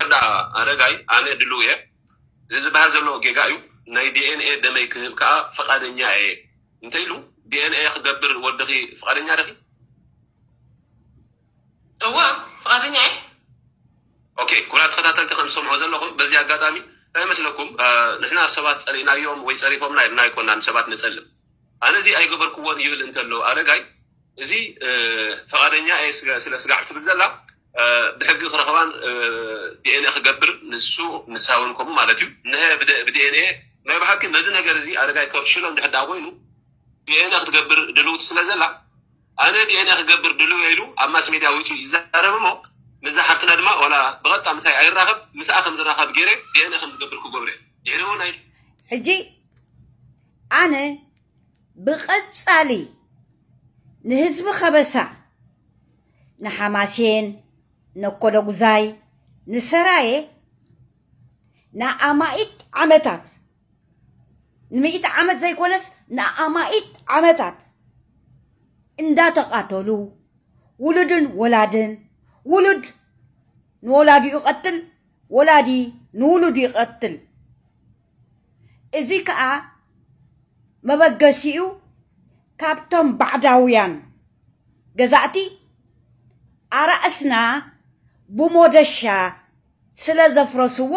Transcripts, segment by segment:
ወዳ ኣረጋይ ኣነ ድልው እየ እዚ ዝበሃል ዘሎ ጌጋ እዩ ናይ ዲኤንኤ ደመይ ክህብ ከዓ ፈቃደኛ እየ እንተይሉ ዲኤንኤ ክገብር ወድኺ ፍቃደኛ ደኺ እወ ፍቃደኛ እየ ኦኬ ኩብራ ተኸታተልቲ ከም ዝሰምዑ ዘለኹም በዚ ኣጋጣሚ እንታይ መስለኩም ንሕና ሰባት ፀሊእናዮም ወይ ፀሪፎምና ኢልና ኣይኮና ንሰባት ንፀልም ኣነ እዚ ኣይገበርክዎን ይብል እንተሎ ኣረጋይ እዚ ፈቃደኛ እየ ስለ ስጋዕ ትብል ዘላ ብሕጊ ክረኽባን ዲኤንኤ ክገብር ንሱ ንሳ እውን ከምኡ ማለት እዩ ንሀ ብዲኤንኤ ናይ ብሓቂ ነዚ ነገር እዚ ኣረጋይ ከፍሽሎ እንድሕር ዳ ኮይኑ ዲኤንኤ ክትገብር ድልውቲ ስለ ዘላ ኣነ ዲኤንኤ ክገብር ድልው ኢሉ ኣብ ማስ ሜድያ ወፂኡ ይዛረብ እሞ ምዛ ሓፍትና ድማ ዋላ ብቐጥታ ምሳይ ኣይራኸብ ምስኣ ከም ዝራኸብ ገይረ ዲኤንኤ ከም ዝገብር ክገብረ ድሕሪ እውን ኣይ ሕጂ ኣነ ብቐጻሊ ንህዝቢ ከበሳ ንሓማሴን፣ ነኮለጉዛይ፣ ንሰራየ ንኣማኢት ዓመታት ንምኢቲ ዓመት ዘይኮነስ ንኣማኢት ዓመታት እንዳተቃተሉ ውሉድን ወላድን ውሉድ ንወላዲኡ ይቀትል ወላዲ ንውሉዱ ይቀትል እዚ ከኣ መበገሲኡ ካብቶም ባዕዳውያን ገዛእቲ ኣራእስና ብሞደሻ ስለ ዘፍረስዎ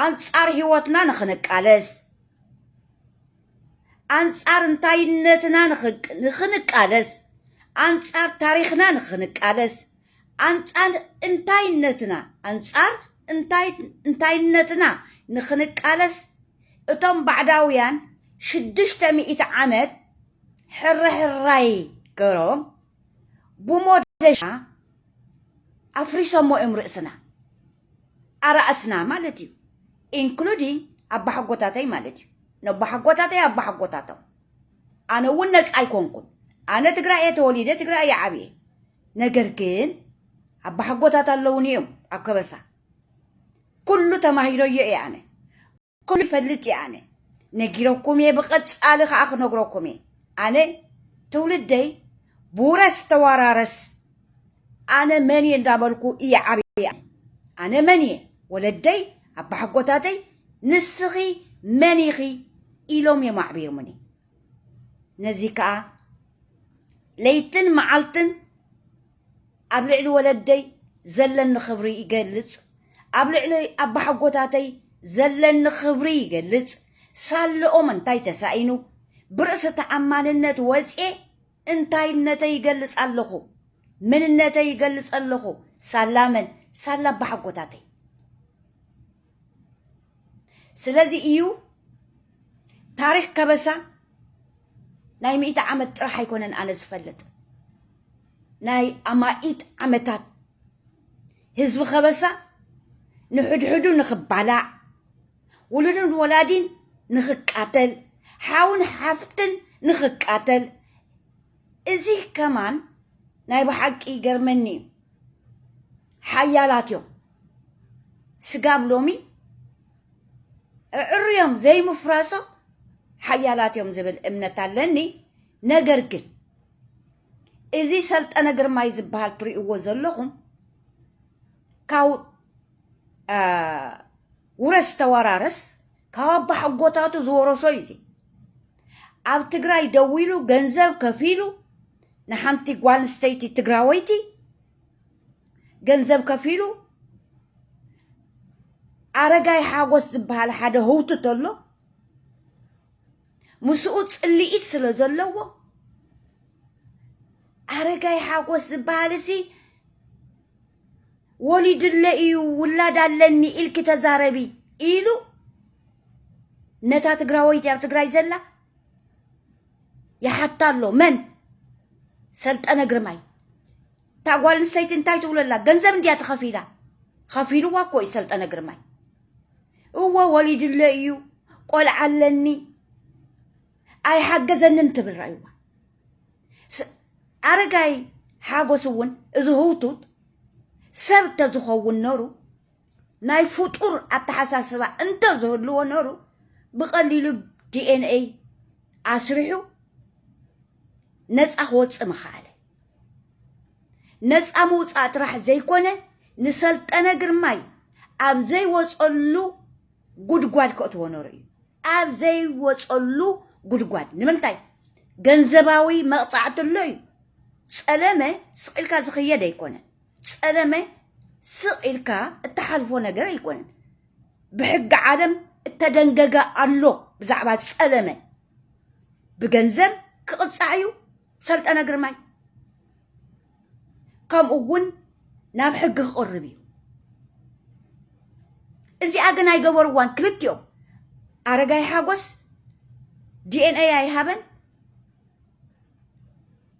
ኣንጻር ህይወትና ንኽንቃለስ ኣንጻር እንታይነትና ንኽንቃለስ ኣንጻር ታሪኽና ንኽንቃለስ ኣንጻር እንታይነትና፣ ኣንጻር እንታይ እንታይነትና ንክንቃለስ እቶም ባዕዳውያን ሽዱሽተ ሚእቲ ዓመት ሕርሕራይ ገሮም ብሞደሻ ኣፍሪሶሞ እዮም ርእስና ኣራእስና ማለት እዩ ኢንክሉዲንግ ኣባሓጎታተይ ማለት እዩ ነባሓጎታተይ ኣባሓጎታቶም ኣነ እውን ነፃ ኣይኮንኩን ኣነ ትግራይ እየ ተወሊደ ትግራይ እየ ዓብየ ነገር ግን ኣባሓጎታት ኣለውኒ እዮም ኣብ ከበሳ ኩሉ ተማሂረዮ እየ ኣነ ኩሉ ይፈልጥ እየ ኣነ ነጊረኩም እየ ብቐፃሊ ከዓ ክነግረኩም እየ ኣነ ትውልደይ ብውረስ ተዋራረስ ኣነ መን እየ እንዳበልኩ እየ ዓብየ ኣነ መን እየ ወለደይ ኣባሓጎታተይ ንስኺ መን ኢኺ ኢሎም እዮም ኣዕብዮምኒ ነዚ ከኣ ለይትን መዓልትን ኣብ ልዕሊ ወለደይ ዘለኒ ክብሪ ይገልጽ፣ ኣብ ልዕሊ ኣባሓጎታተይ ዘለኒ ክብሪ ይገልጽ፣ ሳለኦም እንታይ ተሳኢኑ ብርእሰ ተኣማንነት ወጽየ እንታይነተይ ይገልጽ ኣለኹ፣ መንነተይ ይገልጽ ኣለኹ፣ ሳላ መን ሳላ ኣባሓጎታተይ። ስለዚ እዩ ታሪክ ከበሳ ናይ ሚእቲ ዓመት ጥራሕ ኣይኮነን ኣነ ዝፈልጥ ናይ ኣማኢት ዓመታት ህዝቢ ከበሳ ንሕድሕዱ ንክባላዕ ውሉድን ወላዲን ንክቃተል ሓውን ሓፍትን ንክቃተል እዚ ከማን ናይ ብሓቂ ይገርመኒ እዩ ሓያላት እዮም ስጋብ ሎሚ እዕርዮም ዘይምፍራሶም ሓያላት እዮም ዝብል እምነት ኣለኒ። ነገር ግን እዚ ሰልጠነ ግርማይ ዝበሃል ትርእይዎ ዘለኹም ካብ ውረስ ተወራረስ ካብ ኣባሓጎታቱ ዝወረሶ እዩ እዚ ኣብ ትግራይ ደው ኢሉ ገንዘብ ከፊሉ ንሓንቲ ጓል ኣንስተይቲ ትግራወይቲ ገንዘብ ከፊሉ ኣረጋይ ሓጎስ ዝበሃል ሓደ ህውቱ ተሎ ምስኡ ፅልኢት ስለ ዘለዎ ኣረጋይ ሓጎስ ዝበሃል እሲ ወሊድለ እዩ ውላድ ኣለኒ ኢልኪ ተዛረቢ ኢሉ ነታ ትግራወይቲ ኣብ ትግራይ ዘላ ይሓታ ኣሎ መን ሰልጠነ ግርማይ እታ ጓል ኣንስተይቲ እንታይ ትብሎ ኣላ ገንዘብ እንድያ ተኸፊላ ኸፊልዋ እኮ እዩ ሰልጠነ ግርማይ እወ ወሊድለ እዩ ቆልዓ ኣለኒ ኣይሓገዘንን ትብል ራእይዋ ስ- ኣረጋይ ሓጎስ እውን እዚ ህውቱት ሰብ ተዝኸውን ነሩ ናይ ፍጡር ኣተሓሳስባ እንተ ዝህልዎ ነሩ ብቐሊሉ ዲኤንኤይ ኣስሪሑ ነፃ ክወፅእ ምኸኣለ ነፃ ምውፃእ ጥራሕ ዘይኮነ ንሰልጠነ ግርማይ ኣብ ዘይወፀሉ ጉድጓድ ከእትዎ ነሩ እዩ ኣብ ዘይወፀሉ ጉድጓድ ንምንታይ ገንዘባዊ መቕፃዕቲ ኣሎ እዩ ፀለመ ስቂልካ ዝኽየድ ኣይኮነን ፀለመ ስቕ ኢልካ እትሓልፎ ነገር ኣይኮነን ብሕጊ ዓለም እተደንገገ ኣሎ ብዛዕባ ፀለመ ብገንዘብ ክቕፃዕ እዩ ሰልጠነ ግርማይ ከምኡ እውን ናብ ሕጊ ክቕርብ እዩ እዚኣ ግን ኣይገበርዋን ክልቲኦም ኣረጋይ ሓጎስ ዲኤንኤ ኣይሃበን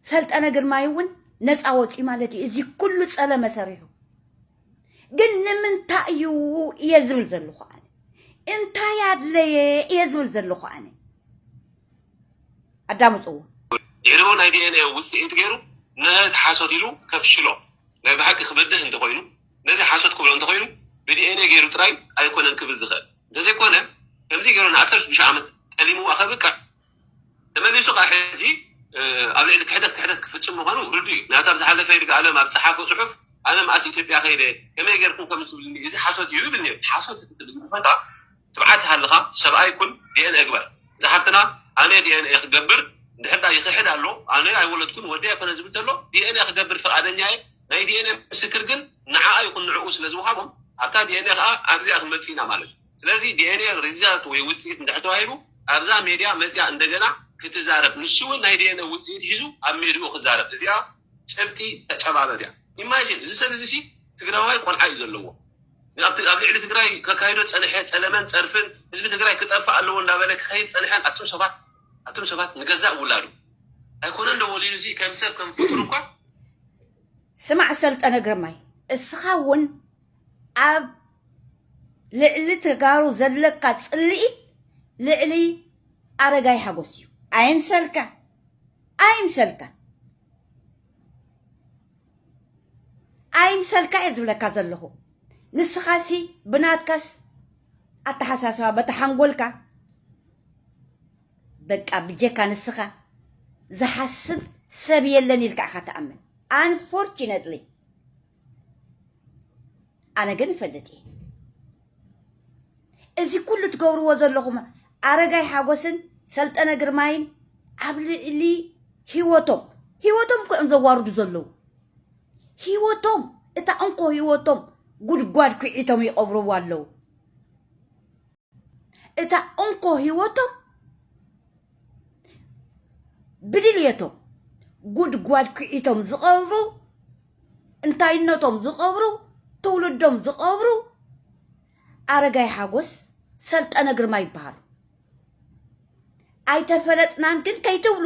ሰልጠነ ግርማይ እውን ነፃ ወፂኡ ማለት እዩ እዚ ኩሉ ፀለመ ሰሪሑ ግን ንምንታይ እዩ እየ ዝብል ዘለኹ ኣነ እንታይ ኣድለየ እየ ዝብል ዘለኹ ኣነ ኣዳምፅዎ ድሕሪኡ ናይ ዲኤንኤ ውፅኢት ገይሩ ነቲ ሓሶት ኢሉ ከፍሽሎ ናይ ብሓቂ ክበድህ እንተኮይኑ ነዚ ሓሶት ክብሎ እንተኮይኑ ብዲኤንኤ ገይሩ ጥራይ ኣይኮነን ክብል ዝኽእል እንተዘይኮነ ከምዚ ገይሩ ንዓሰርተ ሽዱሽተ ዓመት ጠሊምዋ ከብቅዕ ተመሊሱ ከኣ ሕጂ ኣብ ልዕሊ ክሕደት ክሕደት ክፍጽም ምዃኑ ርዱእ እዩ። ናብታ ብዝሓለፈ ይርጋኣለም ኣብ ዝጸሓፎ ጽሑፍ ኣነ መኣስ ኢትዮጵያ ከይደ ከመይ ጌርኩም ከምዚ ትብሉኒ እዚ ሓሶት እዩ ይብል ኔሩ። ሓሶት እቲ ትብል እንተኾይንካ ትብዓት ይሃልኻ ሰብኣይ ኩን ዲኤንኤ ግበር። እዛ ሓፍትና ኣነ ዲኤንኤ ክገብር እንድሕር ድኣ ይኽሕድ ኣሎ ኣነ ኣይወለድኩን ወደይ ኣይኮነን ዝብል ተሎ ዲኤንኤ ክገብር ፍቃደኛ እየ ናይ ዲኤንኤ ምስክር ግን ንዓኣ ይኹን ንዕኡ ስለዝወሃቦም ኣብታ ዲኤንኤ ከኣ ኣብዚኣ ክንመጽእ ኢና ማለት እዩ። ስለዚ ዲኤንኤ ሪዛልት ወይ ውፅኢት እንድሕር ተዋሂቡ ኣብዛ ሜድያ መፅያ እንደገና ክትዛረብ ንሱ እውን ናይ ዲኤንኤ ውፅኢት ሒዙ ኣብ ሜድኡ ክዛረብ እዚኣ ጭብጢ ተጨባበት እያ ኢማጂን እዚ ሰብ እዚ ሲ ትግራዋይ ቆልዓ እዩ ዘለዎ ኣብ ኣብ ልዕሊ ትግራይ ከካይዶ ዝፀንሐ ፀለመን ፀርፍን ህዝቢ ትግራይ ክጠፍእ ኣለዎ እንዳበለ ክኸይድ ፀንሐን ኣቱም ሰባት ኣቱም ሰባት ንገዛእ ውላዱ ኣይኮነን ዶ ወሊዱ እዚ ከም ሰብ ከም ፍጡር እኳ ስማዕ ሰልጠነ ግርማይ እስኻ እውን ኣብ ልዕሊ ተጋሩ ዘለካ ፅልኢት ልዕሊ ኣረጋይ ሓጎስ እዩ ኣይምሰልካ ኣይምሰልካ ኣይምሰልካ እየ ዝብለካ ዘለኹ ንስኻሲ ብናትካስ ኣተሓሳስባ በታ ሓንጎልካ በቃ ብጀካ ንስኻ ዝሓስብ ሰብ የለን ኢልካ ኢኻ ትኣምን ኣንፎርችነትሊ ኣነ ግን እፈልጥ እየ እዚ ኩሉ ትገብርዎ ዘለኹም ኣረጋይ ሓጎስን ሰልጠነ ግርማይን ኣብ ልዕሊ ሂወቶም ሂወቶም እኮ እዮም ዘዋርዱ ዘለዉ ሂወቶም እታ እንኮ ሂወቶም ጉድጓድ ኩዒቶም ይቐብርዎ ኣለዉ እታ እንኮ ህይወቶም ብድልየቶም ጉድጓድ ኩዒቶም ዝቐብሩ እንታይነቶም ዝቐብሩ ትውልዶም ዝቐብሩ ኣረጋይ ሓጎስ ሰልጠነ ግርማ ይበሃሉ። ኣይተፈለጥናን ግን ከይትብሉ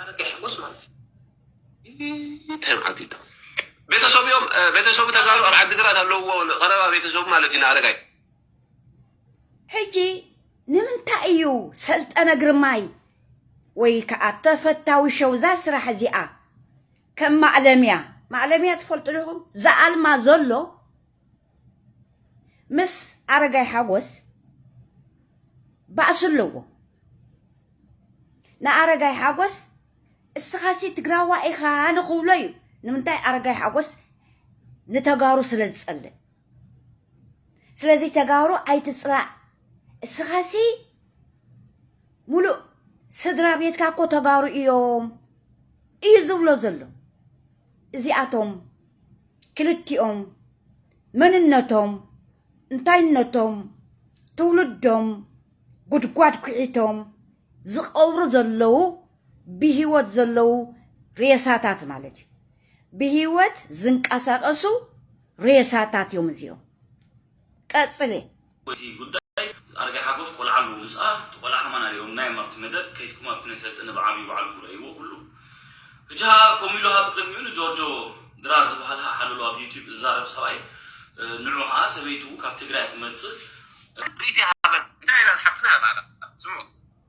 ኣረጋሽጎስ ማለት ተዓጊቶ ቤተሰቡ እዮም። ቤተሰቡ ተጋሩ ኣብ ዓዲግራት ኣለውዎ ቀረባ ቤተሰቡ ማለት እዩ ንኣረጋይ ሕጂ ንምንታይ እዩ ሰልጠነ ግርማይ ወይ ከዓ ተፈታዊ ሸው እዛ ስራሕ እዚኣ ከም ማእለምያ ማእለምያ ትፈልጡ ዲኹም ዘኣልማ ዘሎ ምስ ኣረጋይ ሓጎስ ባእሲ ኣለዎ። ንኣረጋይ ሓጎስ እስኻሲ ትግራዋ ኢኻ ንኽብሎ እዩ። ንምንታይ ኣረጋይ ሓጎስ ንተጋሩ ስለ ዝጸልእ። ስለዚ ተጋሩ ኣይትጽላእ እስኻሲ ሙሉእ ስድራ ቤትካ እኮ ተጋሩ እዮም እዩ ዝብሎ ዘሎ እዚኣቶም ክልቲኦም መንነቶም፣ እንታይነቶም፣ ትውልዶም፣ ጉድጓድ ኩዒቶም ዝቐብሩ ዘለዉ ብሂወት ዘለዉ ሬሳታት ማለት እዩ። ብሂወት ዝንቀሳቐሱ ሬሳታት እዮም እዚኦም። ቀጽሊ። እቲ ጉዳይ ኣረጋይ ሓጎስ ቆልዓ ኣለዎ ምስኣ እቲ ቆልዓ ከማን ኣሪኦምናዮም ኣብቲ መደብ ከይድኩም ኣብቲ ናይ ሰልጠነ ብዓቢኡ ባዕልኩም ረእይዎ ኩሉ ሕጂ ከኣ ከምኡ ኢሉ ሃብ ቅድሚኡ ንጆርጆ ድራር ዝባሃል ሃእ ሓለሎ ኣብ ዩቲብ ዝዛረብ ሰብኣይ ንዑ ከኣ ሰበይቱ ካብ ትግራይ እያ ትመጽእ ክብሪት ይሃበን እንታይ ኢላ ንሓፍትና ያታኣላ ስምዑ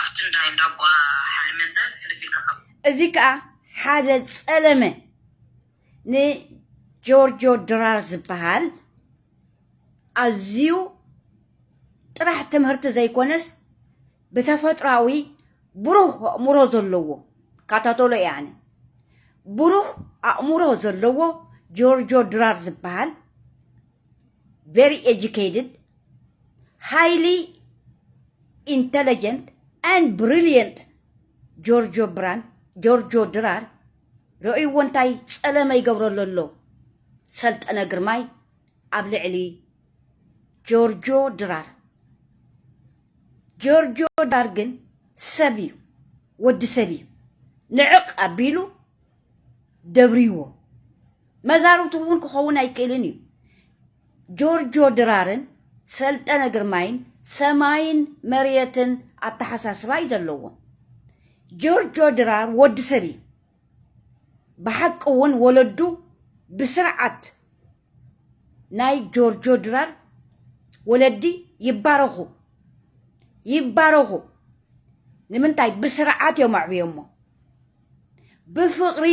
ኣፍቲ እንዳ እንዳቦኣ ሓልመ እንተ ሕልፍ ኢልካ ካብ። እዚ ከኣ ሓደ ጸለመ ንጆርጆ ድራር ዝበሃል ኣዝዩ ጥራሕ ትምህርቲ ዘይኮነስ ብተፈጥሮኣዊ ብሩህ ኣእምሮ ዘለዎ ካታተሎ እየ ኣነ ብሩህ ኣእምሮ ዘለዎ ጆርጆ ድራር ዝበሃል very educated, highly intelligent and brilliant ጆርጆ ብራን ጆርጆ ድራር ርእይዎ እንታይ ጸለመ ይገብረሉ ኣሎ ሰልጠነ ግርማይ ኣብ ልዕሊ ጆርጆ ድራር ጆርጆ ድራር ግን ሰብ እዩ ወዲ ሰብ እዩ ንዕቕ ኣቢሉ ደብርዎ መዛርብቱ እውን ክኸውን ኣይክእልን እዩ ጆርጆ ድራርን ሰልጠነ ግርማይን ሰማይን መሬትን ኣተሓሳስባ እዩ ዘለዎም ጆርጆ ድራር ወዲ ሰብ እዩ ብሓቂ እውን ወለዱ ብስርዓት ናይ ጆርጆ ድራር ወለዲ ይባረኹ ይባረኹ ንምንታይ ብስርዓት እዮም ኣዕብዮሞ ብፍቕሪ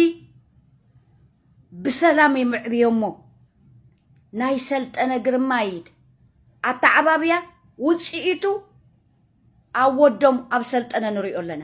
ብሰላም እዮም ኣዕብዮሞ ናይ ሰልጠነ ግርማይት ኣተዓባብያ ውፅኢቱ ኣብ ወዶም ኣብ ሰልጠነ ንሪኦ ኣለና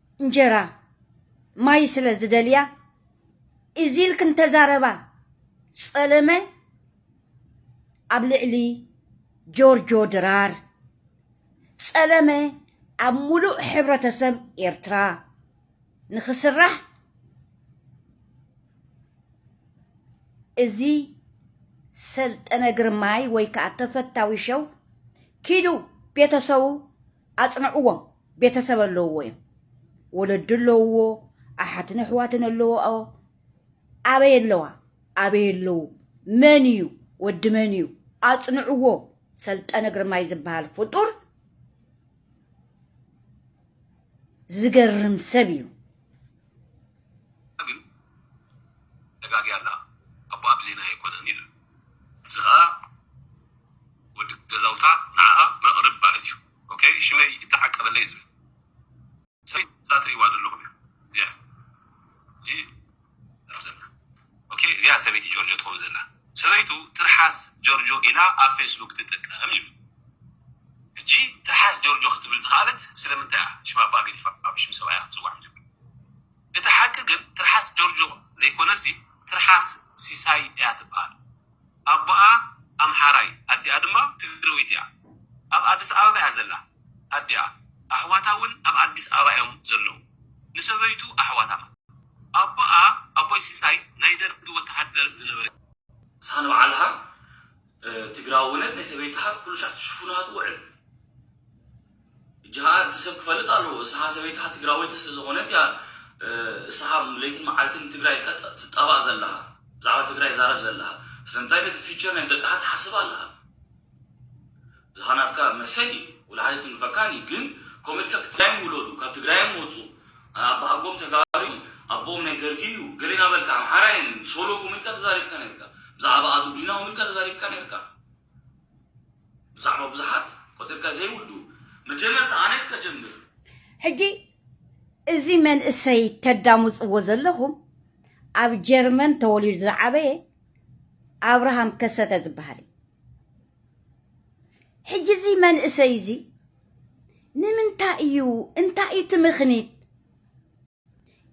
እንጀራ ማይ ስለ ዝደልያ እዚ ኢልክን ተዛረባ ጸለመ ኣብ ልዕሊ ጆርጆ ድራር ጸለመ ኣብ ሙሉእ ሕብረተሰብ ኤርትራ ንኽስራሕ እዚ ሰልጠነ ግርማይ ወይ ከኣ ተፈታዊ ሸው ኪዱ ቤተሰቡ ኣጽንዕዎም ቤተሰብ ኣለውዎ እዮም ወለዲ ኣለውዎ ኣሓትን ኣሕዋትን ኣለዎ ኣበይ ኣለዋ ኣበይ ኣለዉ መን እዩ ወዲ መን እዩ ኣጽንዕዎ ሰልጠነ ግርማይ ዝበሃል ፍጡር ዝገርም ሰብ እዩ ግን ተጋግያ ኣላ ኣቦኣ ብዜና ኣይኮነን ኢሉ። እዚ ከኣ ወዲ ገዛውታ ንዓኣ መቅርብ ማለት እዩ ኦከይ ሽመይ ይተዓቀበለይ ዝብል ሰብ እዩ እዛ ትሪእዋ ዘለኹም እያ እዚኣ ሕጂ ኣብዘላ ኦኬ እዚኣ ሰበይቲ ጆርጆ ትኸውን ዘላ ሰበይቱ ትርሓስ ጆርጆ ኢላ ኣብ ፌስቡክ ትጥቀም ይብል ሕጂ ትርሓስ ጆርጆ ክትብል ዝኸኣለት ስለምንታይ እያ ሽም ኣባ ገዲፋ ብሽም ሰብኣያ ክትጽዋዕ መጀመርያ እቲ ሓቂ ግን ትርሓስ ጆርጆ ዘይኮነሲ ትርሓስ ሲሳይ እያ ትበሃል ኣቦኣ ኣምሓራይ ኣዲኣ ድማ ትግረወይቲ እያ ኣብ ኣድስ ኣበባ እያ ዘላ ኣዲኣ ኣሕዋታ ውን ኣብ ኣዲስ ኣበባ እዮም ዘለዉ ንሰበይቱ ኣሕዋታ ኣቦኣ ኣቦይ ሲሳይ ናይ ደርጊ ወተሃደር ዝነበረ እዩ። ንስኻ ንባዕልኻ ትግራውነት ናይ ሰበይትኻ ኩሉ ሻዕ ትሽፉና ትውዕል እጂ ከኣ እቲ ሰብ ክፈልጥ ኣለዎ እስኻ ሰበይትኻ ትግራወይቲ ስለ ዝኾነት እያ እስኻ ለይትን መዓልትን ንትግራይ ኢልካ ትጣባእ ዘለኻ ብዛዕባ ትግራይ ዛረብ ዘለኻ ስለምንታይ ነቲ ፊቸር ናይ ደቅኻ ትሓስብ ኣለኻ እዚኻ ናትካ መሰል እዩ ወላሓደ ትንክፈካን እዩ ግን ከምኡ ኢልካ ክትግራዮም ውለዱ ካብ ትግራዮም ወጹ ኣባሃጎም ተጋሩ እዩ ኣቦኦም ናይ ደርጊ እዩ ገሌ ናበልካ ኣምሓራ እየን ሶሎ ከምኡ ኢልካ ተዛሪብካ ነርካ ብዛዕባ ኣዱግሪና ከምኡ ኢልካ ተዛሪብካ ነርካ ብዛዕባ ብዙሓት ቆጺርካ ዘይውዱ መጀመርታ ኣነ ከጀምር ሕጂ እዚ መንእሰይ ተዳሙጽዎ ዘለኹም ኣብ ጀርመን ተወሊዱ ዝዓበየ ኣብርሃም ከሰተ ዝበሃል እዩ ሕጂ እዚ መንእሰይ እዚ ንምንታይ እዩ እንታይ እዩ እቲ ምኽኒት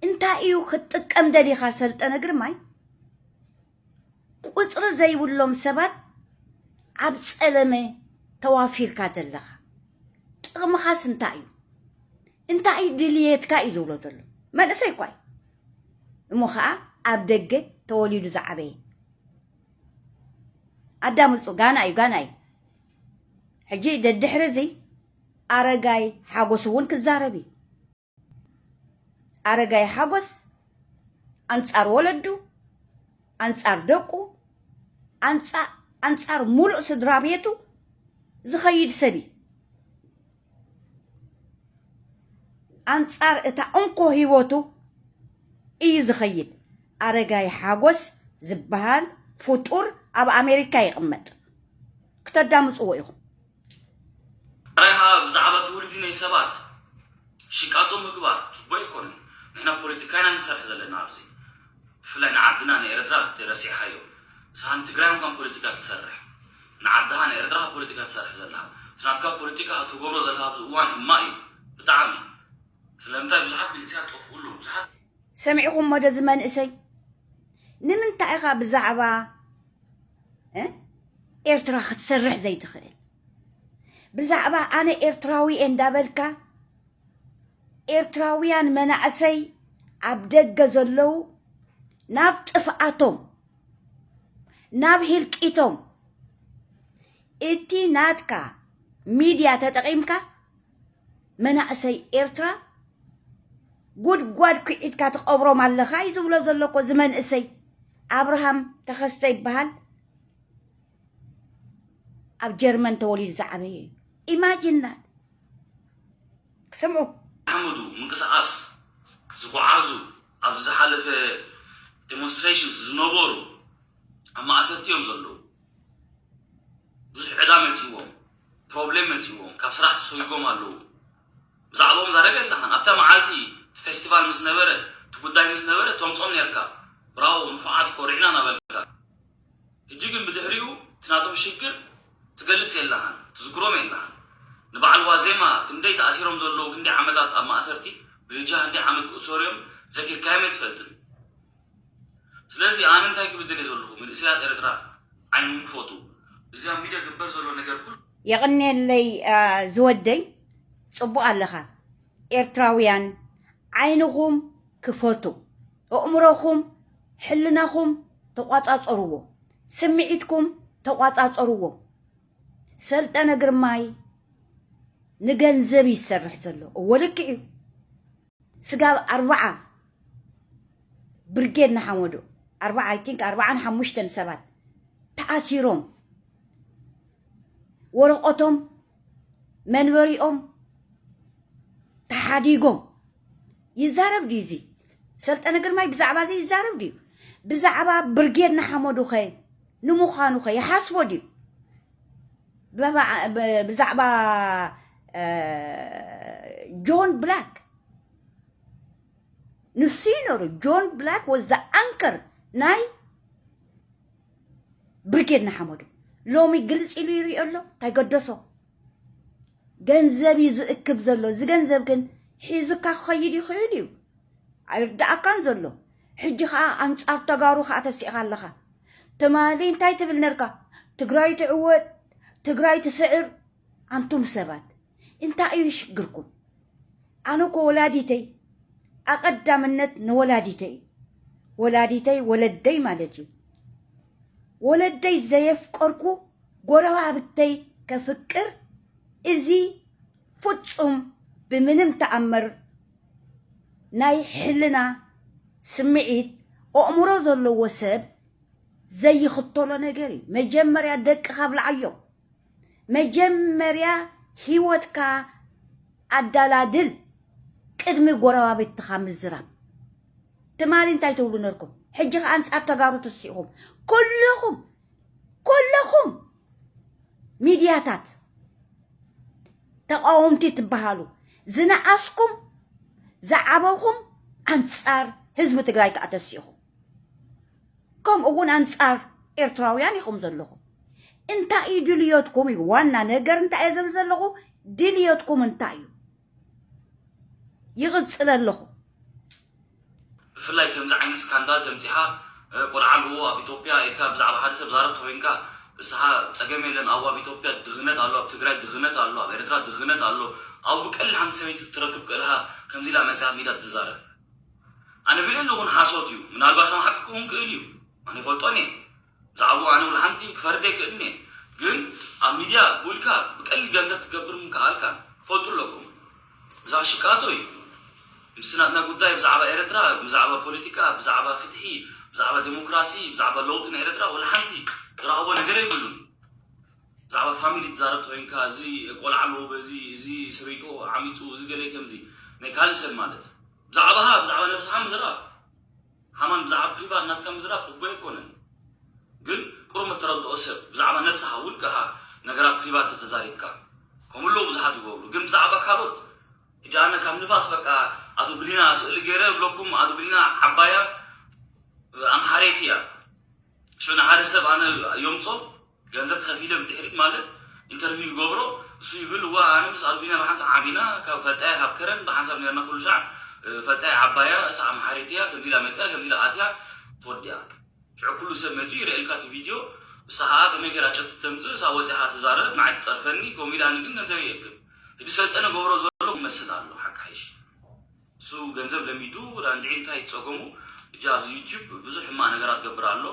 እንታይ እዩ ክትጥቀም ደሊኻ ሰልጠነ ግርማይ ቁፅሪ ዘይብሎም ሰባት ኣብ ፀለመ ተዋፊርካ ዘለኻ ጥቕምኻስ እንታይ እዩ እንታይ እዩ ድልየትካ እዩ ዝብሎ ዘሎ መንእሰይ እኳ እዩ እሞ ከዓ ኣብ ደገ ተወሊዱ ዝዓበየ ኣዳምፁ ጋና እዩ ጋና እዩ ሕጂ ደድሕሪ እዚ ኣረጋይ ሓጎስ እውን ክዛረብ እዩ ኣረጋይ ሓጎስ ኣንጻር ወለዱ ኣንጻር ደቁ ኣንጻር ሙሉእ ስድራ ቤቱ ዝኸይድ ሰብ እዩ ኣንጻር እታ እንኮ ሂወቱ እዩ ዝኸይድ ኣረጋይ ሓጎስ ዝበሃል ፍጡር ኣብ ኣሜሪካ ይቕመጥ ክተዳምፅዎ ኢኹም ዳራይ ከኣ ብዛዕባ እቲ ውልዲ ናይ ሰባት ሽቃጦ ምግባር ጽቡቅ ኣይኮነን ንሕና ፖለቲካ ኢና ንሰርሕ ዘለና ኣብዚ ብፍላይ ንዓድና ንኤረትራ ተይ ረሲዕካዮ ንስካ ንትግራይ እንኳን ፖለቲካ ትሰርሕ ንዓድካ ንኤረትራካ ፖለቲካ ትሰርሕ ዘለካ እቲ ናትካ ፖለቲካ ኣብ ትገብሮ ዘለካ ኣብዚ እዋን ህማቅ እዩ ብጣዕሚ ስለምንታይ ብዙሓት መንእሰያት ጠፍኡ ኣለዉ ብዙሓት ሰሚዕኹሞ ዶ እዚ መንእሰይ ንምንታይ ኢኻ ብዛዕባ ኤርትራ ክትሰርሕ ዘይትኽእል ብዛዕባ ኣነ ኤርትራዊ እየ እንዳበልካ ኤርትራውያን መናእሰይ ኣብ ደገ ዘለዉ ናብ ጥፍኣቶም ናብ ህልቂቶም እቲ ናትካ ሚድያ ተጠቒምካ መናእሰይ ኤርትራ ጉድጓድ ኩዒትካ ትቐብሮም ኣለኻ እዩ ዝብሎ ዘሎ እኮ እዚ መንእሰይ ኣብርሃም ተኸስተ ይበሃል ኣብ ጀርመን ተወሊዱ ዝዓበየ እዩ ኢማጂን ዳት ክሰምዑ ሓመዱ ምንቅስቓስ ዝጓዓዙ ኣብዚ ዝሓለፈ ዴሞንስትሬሽንስ ዝነበሩ ኣብ ማእሰርቲ እዮም ዘለዉ ብዙሕ ዕዳ መፂእዎም ፕሮብሌም መጺእዎም ካብ ስራሕ ተሶይጎም ኣለዉ ብዛዕብኦም ዛረብ የላኻን ኣብታ መዓልቲ እቲ ፌስቲቫል ምስ ነበረ እቲ ጉዳይ ምስ ነበረ ተምጾም ኔርካ ብራዎ ንፉዓት ኮሪዕና ናበልካ ህጂ ግን ብድሕሪኡ እቲ ናቶም ሽግር ትገልጽ የላኻን ትዝክሮም የላኻን ንባዓል ዋዜማ ክንደይ ተኣሲሮም ዘለዉ ክንደይ ዓመታት ኣብ ማእሰርቲ ብህጂ ሃንደይ ዓመት ክእሰሩ እዮም ዘኪርካዮም ኣይትፈልጥን ስለዚ ኣነ እንታይ ክብል ደልየ ዘለኹ ምንእሰያት ኤረትራ ዓይንኹም ክፈቱ እዚ ኣብ ሚድያ ግበር ዘሎ ነገር ኩሉ የቕኔለይ ዝወደይ ጽቡቕ ኣለኻ ኤርትራውያን ዓይንኹም ክፈቱ እእምሮኹም ሕልናኹም ተቋጻጸርዎ ስምዒትኩም ተቋጻጸርዎ ሰልጠነ ግርማይ ንገንዘብ ይሰርሕ ዘሎ እወ ልክዕ እዩ ስጋብ ኣርብዓ ብርጌድ ንሓመዱ ኣርብዓ ኣይ ቲንክ ኣርብዓን ሓሙሽተን ሰባት ተኣሲሮም ወረቆቶም መንበሪኦም ተሓዲጎም ይዛረብ ድዩ እዚ ሰልጠነ ግርማይ ብዛዕባ እዚ ይዛረብ ድዩ ብዛዕባ ብርጌድ ንሓመዱ ኸ ንምዃኑ ኸ ይሓስቦ ድዩ ብዛዕባ ጆን ብላክ ንሱ እዩ ነሩ ጆን ብላክ ወዝ ዘ ኣንከር ናይ ብርጌድ ንሓመዱ ሎሚ ግልፂ ኢሉ ይሪኦ ኣሎ እንታይ ገደሶ ገንዘብ እዩ ዝእክብ ዘሎ እዚ ገንዘብ ግን ሒዙካ ክኸይድ ይኽእል እዩ ኣይርዳእካን ዘሎ ሕጂ ከኣ ኣንጻር ተጋሩ ከኣ ተሲእኻ ኣለኻ ትማሊ እንታይ ትብል ነርካ ትግራይ ትዕወት ትግራይ ትስዕር ኣንቱም ሰባት እንታይ እዩ ሽግርኩም ኣነ እኮ ወላዲተይ ኣቀዳምነት ንወላዲተይ እዩ ወላዲተይ ወለደይ ማለት እዩ ወለደይ ዘየፍቀርኩ ጎረባብተይ ከፍቅር እዚ ፍጹም ብምንም ተኣምር ናይ ሕልና ስምዒት ኦእሙሮ ዘለዎ ሰብ ዘይኽተሎ ነገር እዩ መጀመርያ ደቅኻ ኣብልዓዮም መጀመርያ ሂወትካ ኣዳላድል ቅድሚ ጎረባብትኻ ምዝራብ ትማሊ እንታይ ትብሉ ነርኩም ሕጂ ከኣ ኣንጻር ተጋሩ ትስኢኹም ኩሉኹም ኩለኹም ሚድያታት ተቃወምቲ ትበሃሉ ዝነኣስኩም ዝዓበኹም ኣንፃር ህዝቢ ትግራይ ከዓ ተሲኢኹም ከምኡ እውን ኣንፃር ኤርትራውያን ኢኹም ዘለኹም እንታይ እዩ ድልዮትኩም እዩ ዋና ነገር እንታይ እየ ዝብል ዘለኹ ድልዮትኩም እንታይ እዩ ይቕፅለ ኣለኹ ብፍላይ ከምዚ ዓይነት ስካንዳል ተምጺኻ ቆልዓ ኣለዎ ኣብ ኢቶፕያ ኢልካ ብዛዕባ ሓደ ሰብ ዛረብ ተኮይንካ እስኻ ጸገም የለን ኣው ኣብ ኢቶፕያ ድኽነት ኣሎ ኣብ ትግራይ ድኽነት ኣሎ ኣብ ኤረትራ ድኽነት ኣሎ ኣው ብቀሊል ሓንቲ ሰበይቲ ክትረክብ ክእልኻ ከምዚ ኢላ መጺኻ ሜዳ ትዛረብ ኣነ ቢለለኹን ሓሶት እዩ ምናልባሽ ኣም ሓቂ ክኹን ክእል እዩ ኣነ ይፈልጦን እየ ብዛዕብኡ ኣነ ወላ ሓንቲ ክፈርድ ኣይክእልን እየ ግን ኣብ ሚድያ ቡልካ ብቀሊል ገንዘብ ክትገብር ምክኣልካ ፈልጡ ኣለኩም ብዛዕባ ሽቃጦ እዩ ምስቲ ናትና ጉዳይ ብዛዕባ ኤረትራ ብዛዕባ ፖለቲካ ብዛዕባ ፍትሒ ብዛዕባ ደሞክራሲ ብዛዕባ ለውጢ ንኤረትራ ወላ ሓንቲ ዝረኸቦ ነገር የብሉን ብዛዕባ ፋሚሊ ትዛረብ ተኮይንካ እዚ ቆልዓ ኣለዎ በዚ እዚ ሰበይቶ ዓሚጹ እዚ ገለ ከምዚ ናይ ካልእ ሰብ ማለት ብዛዕባኻ ብዛዕባ ነብስኻ ምዝራብ ሃማን ብዛዕባ ፕሪቫት ናትካ ምዝራብ ጽቡቅ ኣይኮነን ግን ቁሩብ እተረድኦ ሰብ ብዛዕባ ነብስካ ውልቅካ ነገራት ፕሪቫት ተተዛሪብካ ከምኡ ኣለዉ ብዙሓት ዝገብሩ ግን ብዛዕባ ካልኦት ሕጂ ኣነ ካብ ንፋስ በቃ ኣቶ ብሊና ስእሊ ገይረ እብለኩም ኣቶ ብሊና ዓባያ ኣምሓረይቲ እያ ሽዑ ንሓደ ሰብ ኣነ የምጾ ገንዘብ ከፊለ ብድሕሪት ማለት ኢንተርቪው ይገብሮ እሱ ይብል እዋ ኣነ ምስ ኣልቢና ብሓንሳብ ዓቢና ካብ ፈልጣያ ካብ ከረን ብሓንሳብ ኔርና ኩሉ ሻዕ ፈልጣያ ዓባያ እሳ ኣምሓሪት ኢያ ከምዚ ኢላ መጺኣ ከምዚ ኢላ ኣትያ ትወዲኣ ሽዑ ኩሉ ሰብ መጺኡ ይርእየልካ እቲ ቪድዮ እሳ ከኣ ከመይ ጌራ ጭርት ተምጽእ እሳ ወጺኻ ትዛረብ ንዓይ ትጸርፈኒ ከምኡ ኢላኒ ግን ገንዘብ ይእክብ ህጂ ሰልጠነ ገብሮ ዘሎ ክመስል ኣለዎ ሓቃ ይሽ። እሱ ገንዘብ ለሚዱ ራንድዒ እንታይ ጸገሙ እጂ ኣብዚ ዩቲብ ብዙሕ ሕማቅ ነገራት ገብር ኣሎ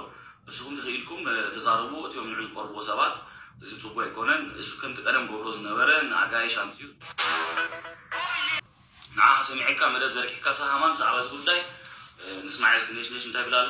ንስኩም ተኪኢልኩም ተዛረቡ እቲኦም ንዑ ዝቀርብዎ ሰባት እዚ ጽቡ ኣይኮነን እሱ ከምቲ ቀደም ገብሮ ዝነበረ ንኣጋይሽ ኣምጺኡ ንዓካ ሰሚዐካ መደብ ዘርጊሕካሳ ሃማም ብዛዕባ እዚ ጉዳይ ንስማዒ እስኪ ነሽነሽ እንታይ ይብል ኣሎ።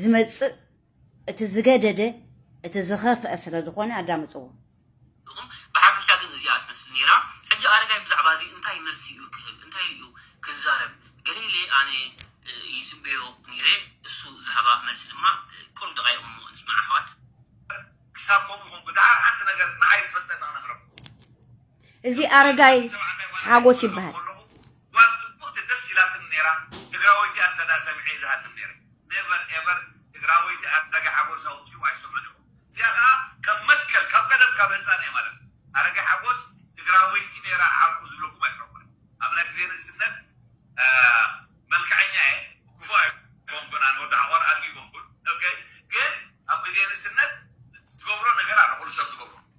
ዝመጽእ እቲ ዝገደደ እቲ ዝኸፍአ ስለ ዝኾነ ኣዳምጽዎ። ኢኹም ብሓፈሻ ግን እዚኣ ትመስል ኔራ ሕጂ ኣረጋይ ብዛዕባ እዚ እንታይ መልሲ ኢዩ ክህብ እንታይ ኢሉ ኢዩ ክዛረብ ገለ ኢለ ኣነ ይጽበዮ ኔረ እሱ ዝሃባ መልሲ ድማ ቅሩብ ደቓይቕ እሞ ንስማዕ ኣሕዋት። ክሳብ ከምኡ ኮንኩ ደሓር ሓንቲ ነገር ንዓይ ዝፈልጠኒ ክነግረኩም። እዚ ኣረጋይ ሓጎስ ይበሃል። ጓል ጽብቅቲ ደስ ኢላትኒ ነይራ ትግራወይቲ ኣንተዳ ሰሚዐ ዝሃድም ነይረ ነቨር ኤቨር ትግራወይቲ ኣረጋ ሓጎስ ኣውጺኡ ኣይሰምዕን እኮ እዚኣ ከኣ ከም መትከል ካብ ቀደም ካብ ህጻነይ ማለት እዩ ኣረጋ ሓጎስ ትግራወይቲ ነይራ ዓርኩ ዝብለኩም ኣይትረኩን ኣብ ናይ ግዜ ንእስነት መልከዐኛ እየ ክፉእ ኣይኮንኩን ኣነ ወዲ ሓቆር ኣድጊ ኣይኮንኩን ኦኬ ግን ኣብ ግዜ ንእስነት ትገብሮ ነገር ኣሎ ኩሉ ሰብ ዝገብሮ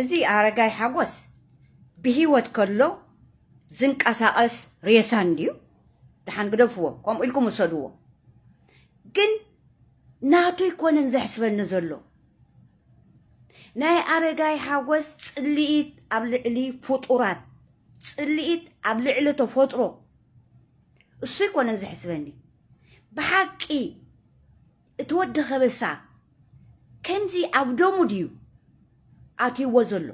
እዚ ኣረጋይ ሓጎስ ብሂወት ከሎ ዝንቀሳቀስ ሬሳ እንድዩ ደሓን ግደፍዎ ከምኡ ኢልኩም ውሰድዎ ግን ናቱ ኣይኮነን ዘሕስበኒ ዘሎ ናይ ኣረጋይ ሓጎስ ጽልኢት ኣብ ልዕሊ ፍጡራት ጽልኢት ኣብ ልዕሊ ተፈጥሮ እሱ ኣይኮነን ዘሕስበኒ ብሓቂ እቲ ወዲ ከበሳ ከምዚ ኣብ ደሙ ድዩ ኣትይዎ ዘሎ?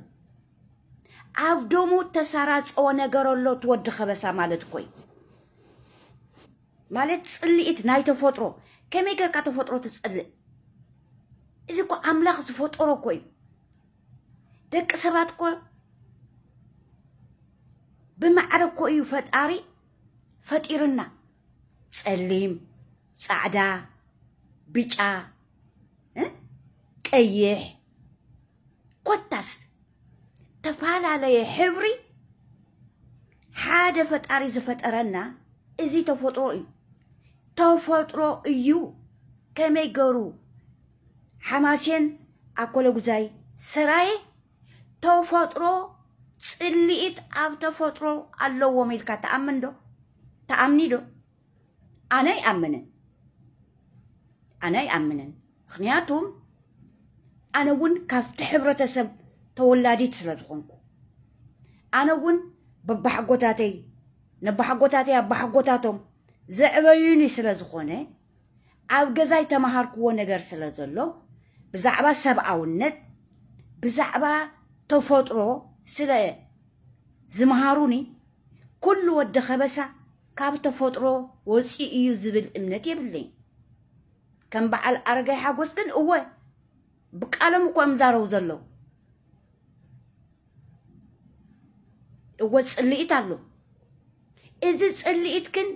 ኣብ ደሙ እተሳራጸወ ነገር ኣሎ እቲ ወዲ ከበሳ ማለት እኮ እዩ። ማለት ጽልኢት ናይ ተፈጥሮ ከመይ ጌርካ ተፈጥሮ ትጸልእ? እዚ እኮ ኣምላኽ ዝፈጠሮ እኮ እዩ። ደቂ ሰባት እኮ ብማዕረ እኮ እዩ ፈጣሪ ፈጢርና። ጸሊም ጻዕዳ ብጫ እ ቀይሕ ኮታስ ተፋላለየ ሕብሪ ሓደ ፈጣሪ ዝፈጠረና እዚ ተፈጥሮ እዩ ተፈጥሮ እዩ ከመይ ገሩ ሓማሴን ኣኮለጉዛይ ሰራየ ተፈጥሮ ፅልኢት ኣብ ተፈጥሮ ኣለዎም ኢልካ ትኣምን ዶ ትኣምኒ ዶ ኣነ ኣይኣምንን ኣነ ኣይኣምንን ምክንያቱም ኣነ እውን ካብቲ ሕብረተሰብ ተወላዲት ስለ ዝኾንኩ ኣነ እውን በባሓጎታተይ ነባሓጎታተይ ኣባሓጎታቶም ዘዕበዩኒ ስለ ዝኾነ ኣብ ገዛይ ተማሃርክዎ ነገር ስለ ዘሎ ብዛዕባ ሰብኣውነት ብዛዕባ ተፎጥሮ ስለ ዝምሃሩኒ ኩሉ ወዲ ከበሳ ካብ ተፎጥሮ ወጺኡ እዩ ዝብል እምነት የብለይን ከም በዓል ኣረጋይ ሓጎስ ግን እወ ብቃሎም እኮ እዮም ዛረቡ ዘለዉ እወ ፅልኢት ኣሎ እዚ ፅልኢት ግን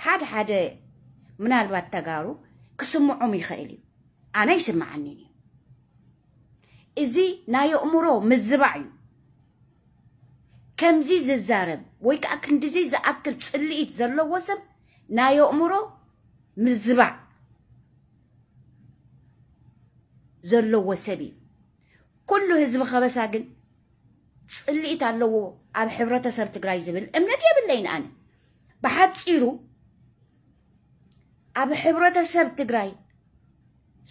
ሓደ ሓደ ምናልባት ተጋሩ ክስምዖም ይኽእል እዩ ኣነ ይስምዓኒን እዩ እዚ ናይ ኣእምሮ ምዝባዕ እዩ ከምዚ ዝዛረብ ወይ ከዓ ክንዲዚ ዝኣክል ፅልኢት ዘለዎ ሰብ ናይ ኣእምሮ ምዝባዕ ዘለዎ ሰብ እዩ ኩሉ ህዝቢ ከበሳ ግን ፅልኢት ኣለዎ ኣብ ሕብረተሰብ ትግራይ ዝብል እምነት የብለይን ኣነ ብሓፂሩ ኣብ ሕብረተሰብ ትግራይ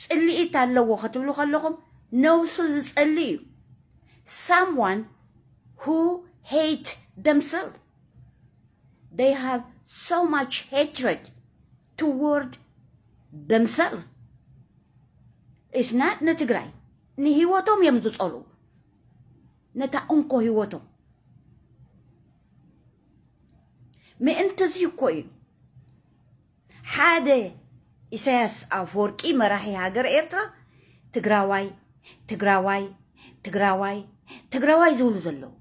ፅልኢት ኣለዎ ክትብሉ ከለኹም ነብሱ ዝፀሊ እዩ ሳምዋን ሁ ሄት ደምሰልፍ they have so much hatred ትዎርድ ደምሰልፍ ኢስ ናት ንትግራይ ንሂወቶም እዮም ዝፀልኡ ነታ እንኮ ሂወቶም ምእንቲ እዚ እኮ እዩ ሓደ ኢሳያስ ኣፈወርቂ መራሒ ሃገር ኤርትራ ትግራዋይ ትግራዋይ ትግራዋይ ትግራዋይ ዝብሉ ዘለዉ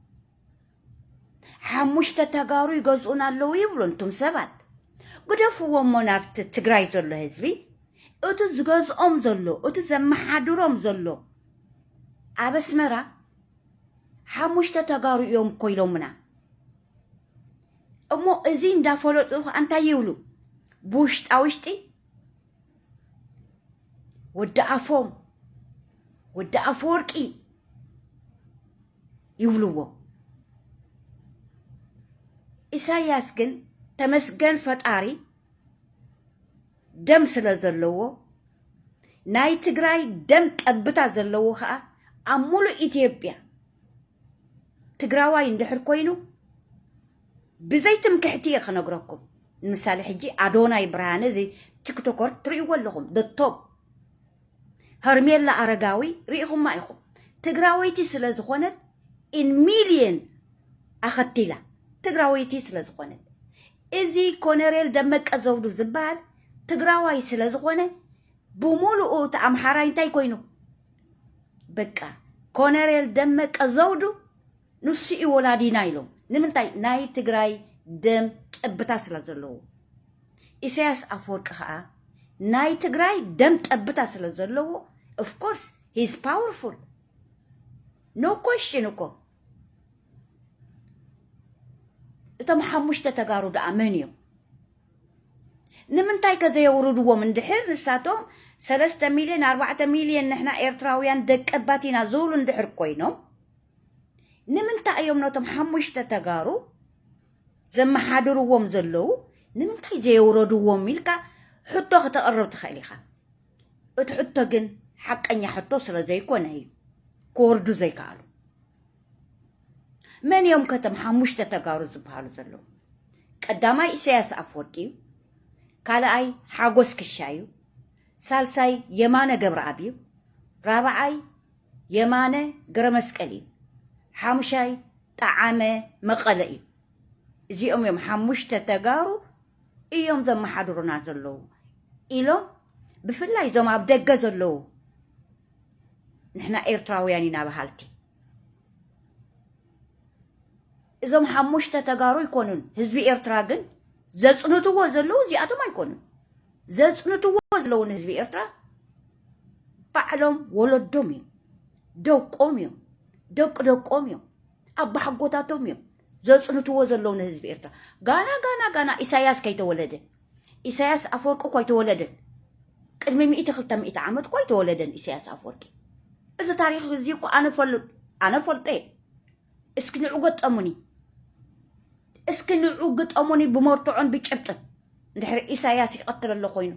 ሓሙሽተ ተጋሩ ይገዝኡና ኣለዉ ይብሉ እንቱም ሰባት ግደፍዎ እሞ ናብቲ ትግራይ ዘሎ ህዝቢ እቲ ዝገዝኦም ዘሎ እቲ ዘመሓድሮም ዘሎ ኣብ ኣስመራ ሓሙሽተ ተጋሩ እዮም እኮ ኢሎምና እሞ እዚ እንዳፈለጡ ከዓ እንታይ ይብሉ ብውሽጣ ውሽጢ ወዲ ኣፎም ወዲ ኣፈወርቂ ይብልዎ። ኢሳያስ ግን ተመስገን ፈጣሪ ደም ስለ ዘለዎ ናይ ትግራይ ደም ጠብታ ዘለዎ ከዓ ኣብ ሙሉእ ኢትዮጵያ ትግራዋይ እንድሕር ኮይኑ ብዘይ ትምክሕቲ እየ ክነግረኩም ንምሳሌ ሕጂ ኣዶናይ ብርሃነ እዚ ቲክቶከር ትርእይዎ ኣለኹም ደቶም ሀርሜላ ኣረጋዊ ሪኢኹማ ኢኹም ትግራወይቲ ስለ ዝኾነት ኢን ሚልየን ኣኸቲላ ትግራወይቲ ስለ ዝኾነት እዚ ኮነሬል ደመቀ ዘውዱ ዝበሃል ትግራዋይ ስለ ዝኾነ ብምሉኡ እቲ ኣምሓራይ እንታይ ኮይኑ በቃ ኮነሬል ደመቀ ዘውዱ ንሱ እዩ ወላዲና ኢሎም ንምንታይ ናይ ትግራይ ደም ጠብታ ስለ ዘለዎ ኢሳያስ ኣፈወርቂ ከዓ ናይ ትግራይ ደም ጠብታ ስለ ዘለዎ ኦፍኮርስ ሂዝ ፓወርፉል ኖ ኮሽን እኮ እቶም ሓሙሽተ ተጋሩ ደኣ መን እዮም ንምንታይ ከዘየውርድዎም እንድሕር ንሳቶም ሰለስተ ሚልዮን ኣርባዕተ ሚልዮን ንሕና ኤርትራውያን ደቀባት ኢና ዝብሉ እንድሕር ኮይኖም ንምንታይ እዮም ነቶም ሓሙሽተ ተጋሩ ዘመሓድርዎም ዘለዉ ንምንታይ ዘየውረድዎም ኢልካ ሕቶ ክተቕርብ ትኽእል ኢኻ እቲ ሕቶ ግን ሓቀኛ ሕቶ ስለ ዘይኮነ እዩ ክወርዱ ዘይከኣሉ መን እዮም ከተም ሓሙሽተ ተጋሩ ዝበሃሉ ዘለዉ ቀዳማይ ኢሳያስ ኣፍወርቂ እዩ ካልኣይ ሓጎስ ክሻ እዩ ሳልሳይ የማነ ገብረኣብ እዩ ራብዓይ የማነ ገረመስቀል እዩ ሓሙሻይ ጠዓመ መቀለ እዩ እዚኦም እዮም ሓሙሽተ ተጋሩ እዮም ዘመሓድሩና ዘለዉ ኢሎም ብፍላይ እዞም ኣብ ደገ ዘለዉ ንሕና ኤርትራውያን ኢና በሃልቲ እዞም ሓሙሽተ ተጋሩ ኣይኮኑን ህዝቢ ኤርትራ ግን ዘጽንትዎ ዘለዉ እዚኣቶም ኣይኮኑን ዘጽንትዎ ዘለዉ ንህዝቢ ኤርትራ ባዕሎም ወለዶም እዮም ደቆም እዮም ደቂ ደቆም እዮም ኣባሓጎታቶም እዮም ዘጽንትዎ ዘለዉ ንህዝቢ ኤርትራ ጋና ጋና ጋና ኢሳያስ ከይተወለደ ኢሳያስ ኣፈወርቂ እኳ ኣይተወለደን ቅድሚ ሚእቲ ክልተ ሚእቲ ዓመት እኳ ኣይተወለደን ኢሳያስ ኣፈወርቂ እዚ ታሪክ እዚ እኳ ኣነ ፈልጦ ኣነ ፈልጦ እየ እስኪ ንዑ ገጠሙኒ እስኪ ንዑ ግጠሙኒ ብመርትዖን ብጭብጥን እንድሕሪ ኢሳያስ ይቐትል ኣሎ ኮይኑ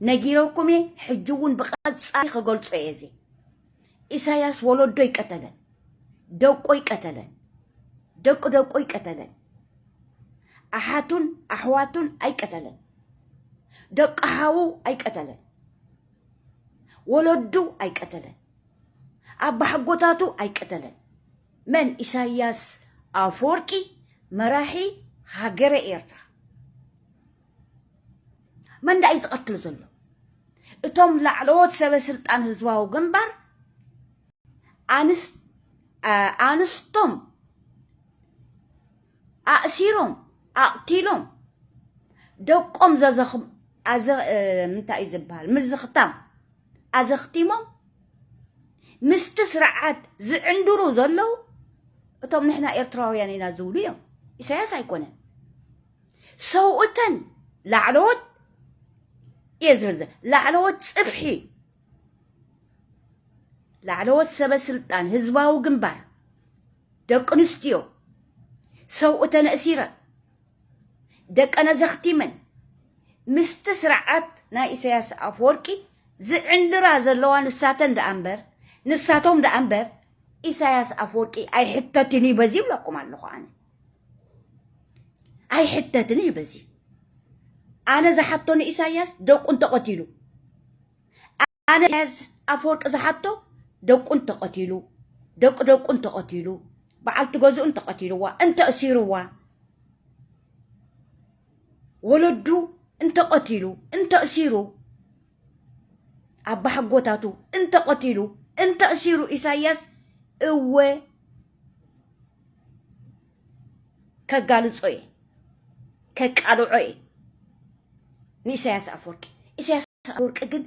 ነጊረኩም እየ ሕጂ እውን ብቐጻሊ ክገልጾ እየ እዚ ኢሳያስ ወለዶ ይቀተለን ደቆ ይቀተለን ደቂ ደቆ ይቀተለን ኣሓቱን ኣሕዋቱን ኣይቀተለን ደቂ ሓዉ ኣይቀተለን ወለዱ ኣይቀተለን ኣባሓጎታቱ ኣይቀተለን መን ኢሳያስ ኣፎርቂ መራሒ ሃገረ ኤርትራ መን ዳዩ ዝቀትል ዘሎ እቶም ላዕለዎት ሰበ ስልጣን ህዝባዊ ግንባር ኣንስ ኣንስቶም ኣእሲሮም ኣቕቲሎም ደቆም ዘዘኽ ኣዘ ምንታይ እዩ ዝበሃል ምዝኽታም ኣዘኽቲሞም ምስቲ ስርዓት ዝዕንድሩ ዘለዉ እቶም ንሕና ኤርትራውያን ኢና ዝብሉ እዮም ኢሳያስ ኣይኮነን ሰውእተን ላዕለዎት እየ ዝብል ላዕለዎት ፅፍሒ ላዕለዎት ሰበ ስልጣን ህዝባዊ ግንባር ደቂ ኣንስትዮ ሰውእተን እሲረን ደቀነ ዘኽቲመን ምስቲ ስርዓት ናይ ኢሳያስ ኣፈወርቂ ዝዕንድራ ዘለዋ ንሳተን ደኣ እምበር ንሳቶም ደኣ እምበር ኢሳያስ ኣፈወርቂ ኣይሕተትን እዩ በዚ ይብለኩም ኣለኹ ኣነ ኣይሕተትን እዩ በዚ ኣነ ዝሓቶ ንኢሳያስ ደቁ እንተቐቲሉ ኣነ ኢሳያስ ኣፈወርቂ ዝሓቶ ደቁ እንተቐቲሉ ደቂ ደቁ እንተቐቲሉ በዓልቲ ገዝኡ እንተቐቲልዋ እንተእሲርዋ ወለዱ እንተቐቲሉ እንተእሲሩ ኣባሓጎታቱ እንተ ቐቲሉ እንተ እሲሩ ኢሳያስ እወ ከጋልጾ እየ ከቃልዖ እየ ንኢሳያስ ኣፈወርቂ ኢሳያስ ኣፈወርቂ ግን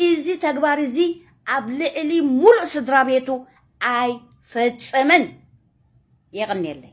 እዚ ተግባር እዚ ኣብ ልዕሊ ሙሉእ ስድራ ቤቱ ኣይፈጸመን የቐንየለይ